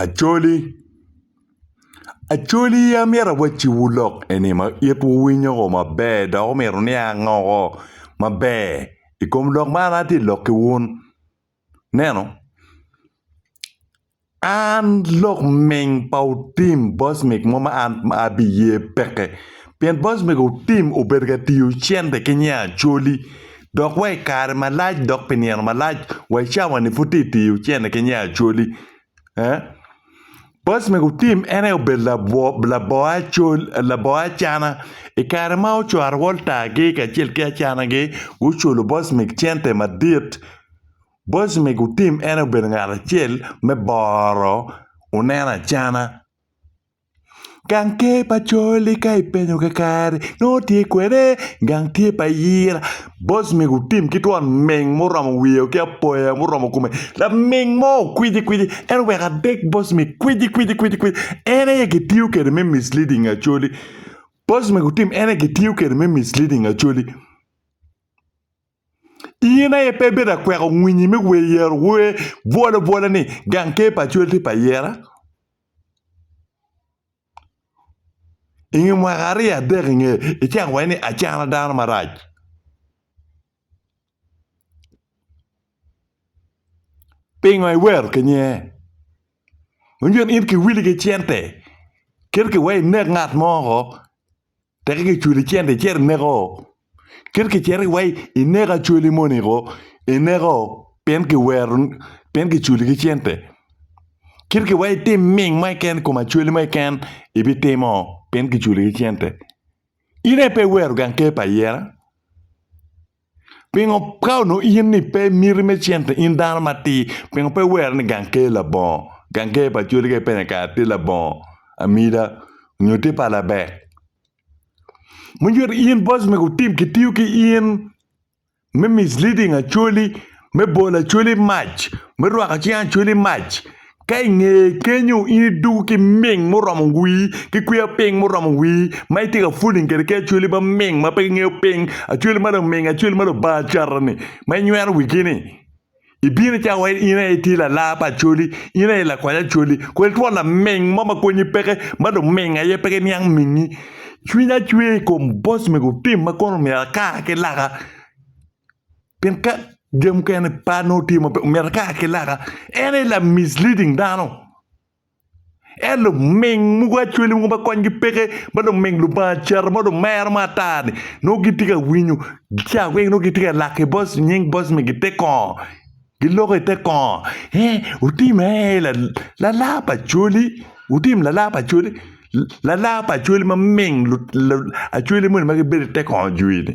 Acholi, Acholi amito awacciwu lok eni ma itwu winyo o maber dok omyero nia ango maber i kom lok ma an atye ka lokki wun. Ineno an lok ming pa otim bocmik mo ma an abiye peke pien bocmik otim obedo ka tiyo cente ki nya Acholi. dok wa i kare malac dok pi nino malac wa i cawa-ni pud tye ka tiyo cente ki nya Acholi. Boc me gutim en aye obedo labor Acholi, labor Acana. I kare ma ocwaro Walter-gi kacel ki Acana-gi guculo boc me cente madit, boc me gutim en aye obedo ngat acel me boro oneno Acana. Gang tye pa col-li ka ipenyo kakare nongo tye kwene, gang tye pa ayira boc mego otim ki twon ming ma oromo wiye ki apoya ma oromo kome laming mo okwicikwici en oweko adek boc mego kwicikwici en aye kitiyo kwede me misleading Acholi boc mego otim en aye kitiyo kwede me misleading Acholi in aye pe ibedo akweko winyi me wer yer wer bwolobwolo ni gang tye pa col tye pa ayira. I nge mwaka aryo adek i ngeye, icako iwaco ni acana dano marac. Pingo iwero ki nge? Winyo in kiwili ki cente kit ki wai inek ngat mo woko. Teke ki cwali cente icito ineko. Kit kicito iwa ineko acwali moni ko ineko pien kiwero pien kicwali ki cente. Kit ki wa itim ming mo keken i kom acwali mo keken ibitimo pien kicwali ki cente. In aye pe iwero gang ker pa ayera. Pingo ka onongo in ni pe miti me cente in dano matir pingo pe iwero ni gang ker labongo gang ker pa col ka ipenye kara tye labongo amida nyo tye pa labek mucito in boss mego tim kitiyo ki in me misleading acholi me bolo acholi mac me rwako cing acholi mac Ka i ngeye kenyo in idwogo ki ming muromo wii, ki kwiya piny muromo wii, ma itye ka fooling kwede ki acwali ma ming ma pe gingeyo piny, acwali ma luming, acwali ma Lubanga acata-ni, ma inywero wigi-ni. Ibino cawa wai in aye itye lalar pa acwali, in aye ilakwany acwali. Kwel twon laming mo ma konyi peke, ma luming aye pe giniang mingi. Cwinya cwer i kom boss mego tim ma kono omyero akar ki laka. Pien ka jami mukene par nongo tye maber omyero kara ki laka en aye la misleading dano. En luming mogo acwele mogo ma konygi peke ma luming Lubanga cito ma dong mero ma ata-ni nongo gitye ka winyo ca weng nongo gitye ka lak ki bot nying bot me gi te kongo giloko i te kongo ee otim ee lala pa cwali otim lala pa cwali lala pa cwali maming acwele moni ma gibedo i te kongo jwi-ni.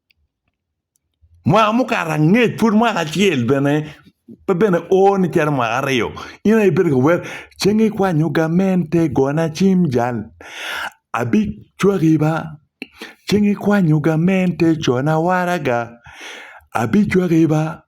Mwaka mukato angec pud mwaka acel bene pe bene o ni cito mwaka aryo in aye ibedo ka wer ceng ikwanyo gamente gona cim jal abicwaki ba ceng ikwanyo gamente cona waraga abicwaki ba.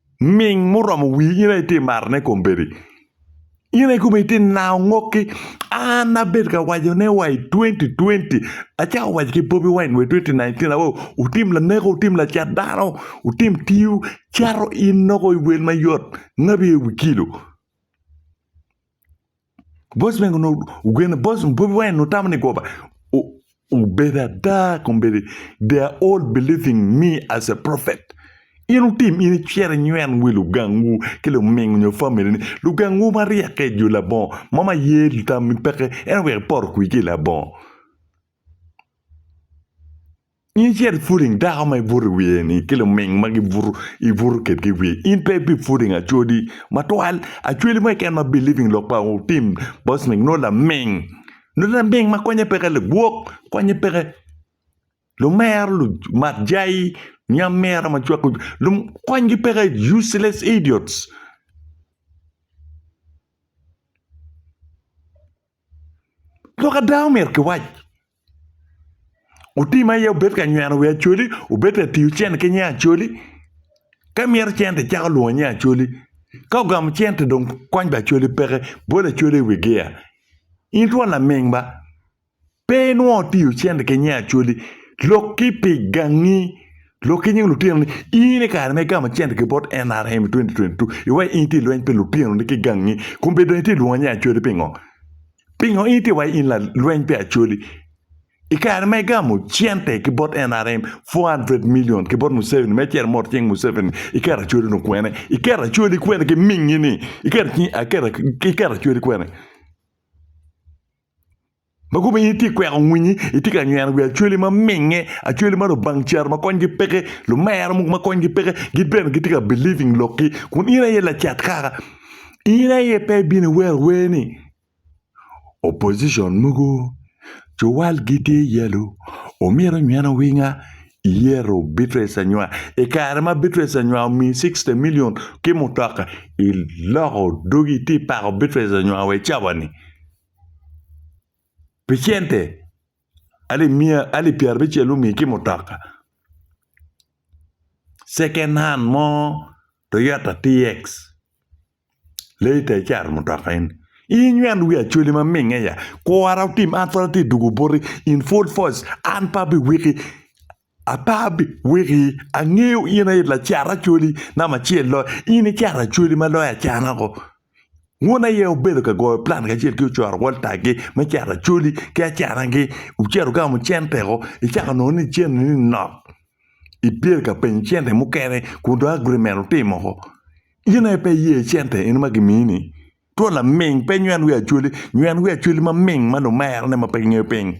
Ming muromo wii in aye itye maro ne kombedi in aye kome itye nao ngoki an abed ka waco ne wa i twenty twenty acako waco ki bobi wine wa i twenty nineteen awo wutim laneko wutim lacat dano wutim tiwu cato in nongo iwel mayot ngabi aye wi kilo. Boss man onongo ogene boss bobi wine onongo tamo ni goba obedo ada kun bedo they are all believing me as a prophet in otim in icito inywen wi lugangwu ki lumingo nyo family ni lugangwu ma ryeke jo labongo ma ma ye tammi peke en oweko ipoto kwir ki i labongo In icito iputing dako ma ibuto i wiye-ni ki luming ma gibuto ibuto kedgi i wiye. In pe ibiputing acwodi matwal, acwodi mo keken ma biliving lok pa otim bocming nongo laming. Nongo laming ma konye peke lagwok, konye peke lumero, lumat jai, nyamera ma cwako lum, konygi peke, useless idiots. Lok ada omyero kiwac, otii ma aye obed ka nyweno wi Acholi obed ka tiyo cente ki nying Acholi ka imito cente icako lwongo nying Acholi ka ogamo cente dong kony ba Acholi peke bolo Acholi iwi giya. In twon laming ba pe inwongo itiyo cente ki nying Acholi lok ki pi gangi Lok ki nying lutino ni in i kare ma igamo cente ki bot NRM i 2022, iwaco in itye i lweny pi lutinoni ki gangi. Kombe dong itye lwonga ni Acholi pingo? Pingo in itye iwaco in lalweny pi Acholi? I kare ma igamo cente ki bot NRM 400 million ki bot Museveni me cito mot cing Museveni, iketo Acholi ni kwene? Iketo Acholi kwene ki mingi ni? Iketo Acholi kwene? Ma kome in itye ka kweko winyi, itye ka nyweno wi acwali ma minge, acwali ma lubang caro ma konygi peke, lumera mogo ma konygi peke, gin bene gitye ka believing lokgi. Kun in aye lacat kaka. In aye pe ibino iwero wer ni opposition mogo cuwalgi tye yellow omyero onyweno winga iyero Beatrice Anywar. I kare ma Beatrice Anywar omiyi sixty million ki mutoka, iloko dogi itye ka pako Beatrice Anywar wa i cawa ni. pi cente alip miya alip pyerabicel omiyi ki mutoka second hand mo Toyota TX later icato mutoka eni inyweno wi Acholi ma minge ya kura otim an pud atye tugo boti in full force an pe abiwiki. Abab, weki, angeyo in aye lacat Acholi namba acel loyo, in icato Acholi ma loyo acana-gu. Wun aye wubedo ka goyo plan kacel ki ocoro Walter-gi me cato Acholi ki acanagi, wucito wugamo cente-gu, icako nongo ni cente-ni nok, ibyelo ka penyo cente mukene kun dong agreement wutimo woko. In aye pe iye cente eno ma gimiyi-ni? Two laming, pe nywen wi Acholi, nywen wi Acholi maming ma lumerone ma pe gingeyo piny.